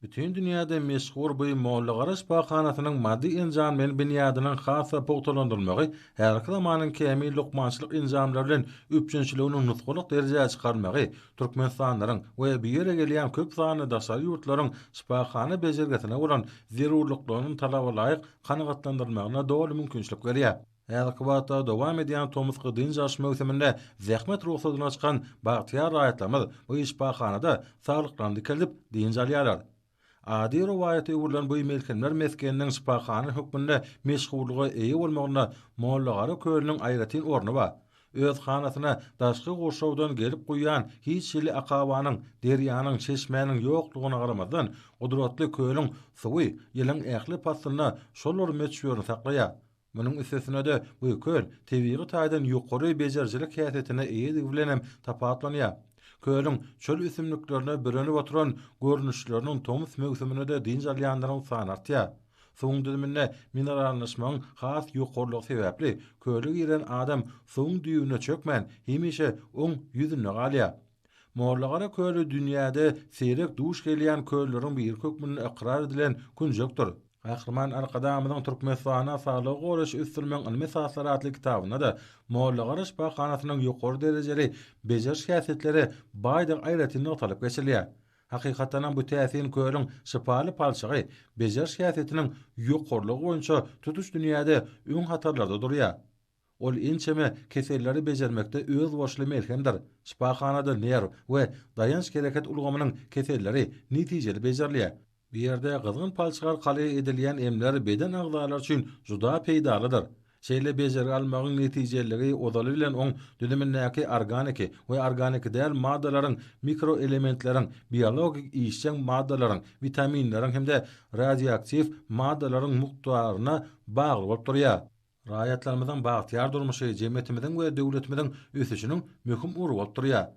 Bütin dünýäde meşhur bu Mollagara şypahanasynyň maddy-enjamlaýyn binýadynyň has-da pugtalandyrylmagy häzirki zamanyň kämil lukmançylyk enjamlary bilen üpjünçiliginiň nusgalyk derejä çykarylmagy türkmenistanlylaryň we bu ýere gelýän köp sanly daşary ýurtlaryň şypahana bejergisine bolan zerurlyklarynyň talabalaýyk kanagatlandyrylmagyna doly mümkinçilik berýär. Häzirki wagtda dowam edýän tomusky dynç alyş möwsüminde zähmet rugsadyna çykan bagtyýar raýatlarymyz bu şypahanada saglyklaryny dikeldip, dynç alýarlar. Ady rowaýata öwrülen bu melhemler mesgeniniň şypahana hökmünde meşhurlyga eýe bolmagynda Mollagara kölüniň aýratyn orny bar. Öz hanasyna daşky gurşawdan gelip guýýan hiç hili akabanyň, derýanyň, çeşmäniň ýoklugyna garamazdan, gudratly kölüň suwy ýylyň ähli paslynda şol bir möçberini saklaýar. Munuň üstesine-de, bu köl tebigy taýdan ýokary bejerijilik häsiýetine eýedigi bilen hem tapawutlanýar. Kölüň çöl ösümliklerine bürenip oturan görnüşleriniň tomus möwsüminde-de dynç alýanlaryň sany artýar. Suwuň düzüminde minerallaşmagyň has ýokarylygy sebäpli, köle giren adam suwuň düýbüne çökmän, hemişe oň ýüzünde galýar. Mollagara köli dünýäde seýrek duş gelýän kölleriň biri hökmünde ykrar edilen künjekdir. Gahryman Arkadagymyzyň Türkmenistanda saglygy goraýşy ösdürmegiň ylmy esaslary atly kitabynda-da Mollagara şypahanasynyň ýokary derejeli bejeriş häsiýetleri baýdygy aýratyn nygtalyp geçilýär. Hakykatdanam bu täsin kölüň şypaly palçygy bejeriş häsiýetiniň ýokarylygy boýunça tutuş dünýäde öň hatarlarda durýar. Ol ençeme keselleri bejermekde özboluşly melhemdir. Şypahanada nerw we daýanç-hereket ulgamynyň keselleri netijeli bejerilýär. Bu ýerde gyzgyn palçyk arkaly edilýän emler beden agzalary üçin juda peýdalydyr. Şeýle bejergi almagyň netijeliligi ozaly bilen oň düzümindäki organiki we organiki däl maddalaryň, mikroelementleriň, biologik işjeň maddalaryň, witaminleriň hem-de radioaktiw maddalaryň mukdaryna bagly bolup durýar. Raýatlarymyzyň bagtyýar durmuşy jemgyýetimiziň we döwletimiziň ösüşiniň möhüm ugry bolup durýar.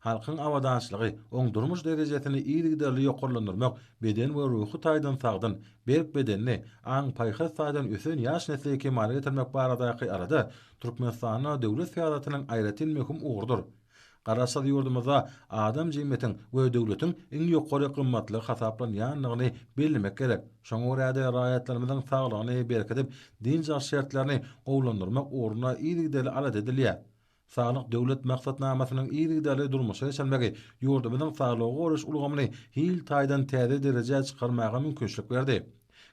Halkyň abadançylygy, oň durmuş derejesini yzygiderli ýokarlandyrmak beden we ruhy taýdan sagdyn, berk bedenli, aň-paýhas taýdan ösen ýaş nesli kemala getirmek baradaky alada Türkmenistanda döwlet syýasatynyň aýratyn möhüm ugrudyr. Garaşsyz ýurdumyzda adam jemgyýetiň we döwletiň iň ýokary gymmatlygy hasaplanýandygyny bellemek gerek. Şoňa görä-de, raýatlarymyzyň saglygyny berkidip, dynç alyş şertlerini gowulandyrmak ugrunda yzygiderli alada edilýär. Saglyk Döwlet maksatnamasynyň yzygiderli durmuşa geçirilmegi ýurdumyzyň saglygy goraýyş ulgamyny hil taýdan täze derejä çykarmaga mümkinçilik berdi.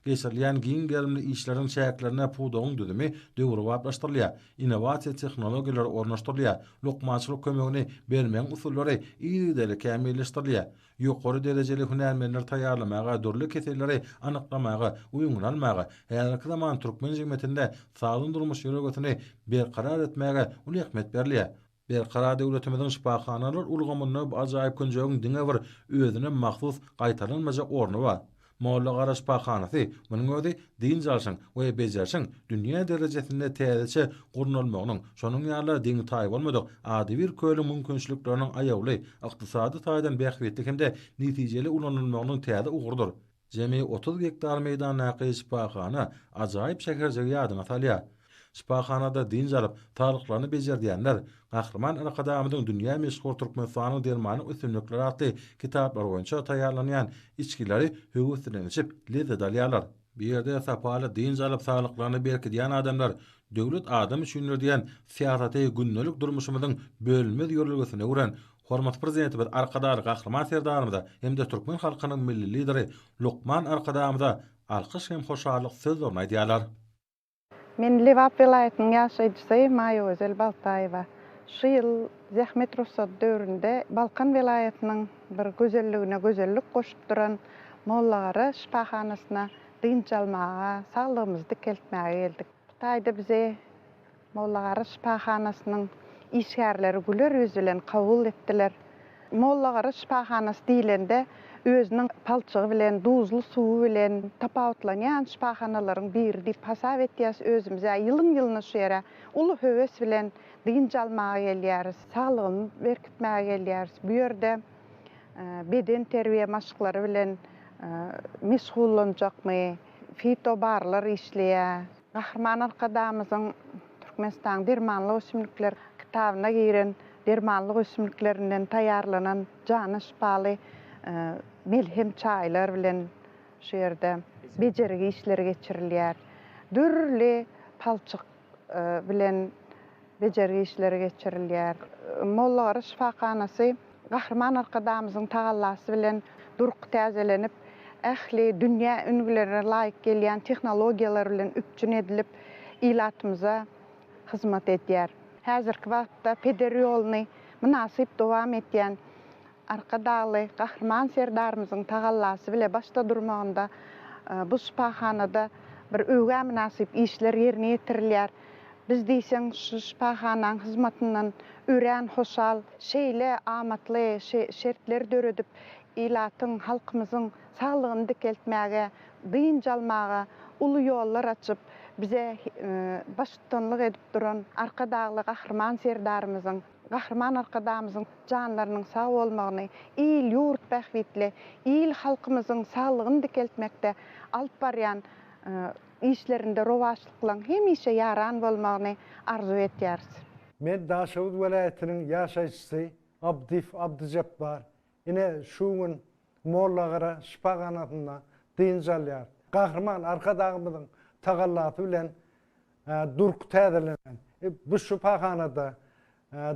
Geçirilýän giň gerimli işleriň çäklerinde pudagyň düzümi döwrebaplaşdyrylýar, innowasiýa tehnologiýalary ornaşdyrylýar, lukmançylyk kömegini bermegiň usullary yzygiderli kämilleşdirilýär, ýokary derejeli hünärmenleri taýýarlamaga, dürli keselleri anyklamaga we öňüni almaga, häzirki zaman türkmen jemgyýetinde sagdyn durmuş ýörelgesini berkarar etmäge uly ähmiýet berilýär. Berkarar döwletimiziň şypahanalar ulgamynda bu ajaýyp künjegiň diňe bir özüne mahsus gaýtalanmajak orny bar. Mollagara şypahanasy, munuň özi dynç alşyň we bejerişiň dünýä derejesinde täzeçe gurnalmagynyň, şonuň ýaly deňi-taýy bolmadyk adybir kölüň mümkinçilikleriniň aýawly, ykdysady taýdan bähbitli hem-de netijeli ulanylmagynyň täze ugrudyr. Jemi otuz gektar meýdandaky şypahana ajaýyp şäherjigi ýadyňa salýar. Şypahanada dynç alyp, saglyklaryny bejerdýänler Gahryman Arkadagymyzyň dünýä meşhur Türkmenistanyň dermanlyk ösümlikleri atly kitaplary boýunça taýýarlanýan içgileri höwes bilen içip, lezzet alýarlar. Bu ýerde sapaly dynç alyp, saglyklaryny berkidýän adamlar Döwlet adam üçindir! diýen syýasaty gündelik durmuşymyzyň bölünmez ýörelgesine öwren Hormatly Prezidentimiz Arkadagly Gahryman Serdarymyza hem-de türkmen halkynyň Milli Lideri lukman Arkadagymyza alkyş hem hoşallyk sözlerini aýdýarlar. Men Lebap welaýatynyň ýaşaýjysy Maýagözel Baltaýewa. Şu ýyl zähmet rugsady döwründe Balkan welaýatynyň bir gözelligine gözellik goşup duran Mollagara şypahanasyna dynç almaga, saglygymyzy dikeltmäge geldik. Bu taýda bize Mollagara şypahanasynyň işgärleri güler ýüz bilen kabul etdiler. Mollagara şypahanasy diýlende, özüniň palçygy bilen, duzly suwy bilen tapawutlanýan şypahanalaryň biri diýip hasap etýäris özümizi. Ýylyň-ýylyna şu ýere uly höwes bilen dynç almaga gelýäris, saglygymy berkitmäge gelýäris. Bu ýerde bedenterbiýe maşklary bilen meşgullanjakmy, fitobarlar işleýär. Gahryman Arkadagymyzyň Türkmenistanyň dermanlyk ösümlikler kitabyna giren dermanlyk ösümliklerinden taýýarlanan jana şypaly melhem çaýlar bilen şu ýerde bejergi işleri geçirilýär. Dürli palçyk bilen bejergi işleri geçirilýär. Mollagyryş şypahanasy Gahryman Arkadagymyzyň tagallasy bilen durky täzelenip, ähli dünýä ülňülerine laýyk gelýän tehnologiýalar bilen üpjün edilip, ilatymyza hyzmat edýär. Häzirki wagtda peder ýoluny mynasyp dowam edýän Arkadagly Gahryman Serdarymyzyň tagallasy bile başda durmagynda bu şypahanada bir öwgä mynasyp işler ýerine ýetirilýär. Biz diýseň şu şypahanaň hyzmatyndan örän hoşal. Şeýle amatly şertleri döredip, ilatyň, halkymyzyň saglygyny dikeltmäge, dynç almaga uly ýollar açyp, bize baştutanlyk edip duran Arkadagly Gahryman Serdarymyzyň, Gahryman Arkadagymyzyň janlarynyň sag bolmagyny, il-ýurt bähbitli, il-halkymyzyň saglygyny dikeltmekde alyp barýan işlerinde rowaçlyklaryň hemişe ýaran bolmagyny arzuw etýäris. Men Daşoguz welaýatynyň ýaşaýjysy Abdyýew Abdyjepbar Ine, şu gün Mollagyra şypahanasynda dynç alýar. Gahryman Arkadagymyzyň tagallasy bilen durky täzelenen bu şypahanada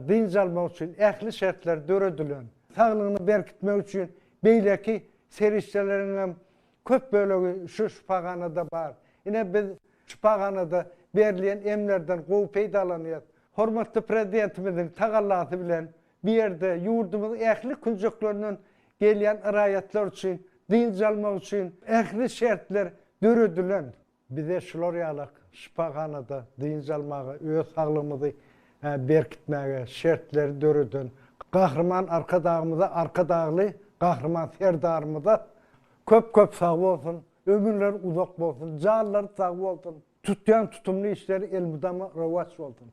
dynç almak üçin ähli şertler döredilen. Saglygyny berkitmek üçin beýleki serişdeleriň hem köp bölegi şu şypahanada bar. Ine, biz şypahanada berilýän emlerden gowy peýdalanýarys. Hormatly Prezidentimiziň tagallasy bilen Bu ýerde ýurdumyzyň ähli künjeklerinden gelýän raýatlar üçin dynç almak üçin ähli şertler döredilen. Bize şular ýaly şypahanada dynç almaga, öz saglygymyzy berkitmäge şertleri döreden Gahryman Arkadagymyza, Arkadagly Gahryman Serdarymyza köp-köp sag bolsun, ömürleri uzak bolsun, janlary sag bolsun, tutýan tutumly işleri elmydama rowaç bolsun!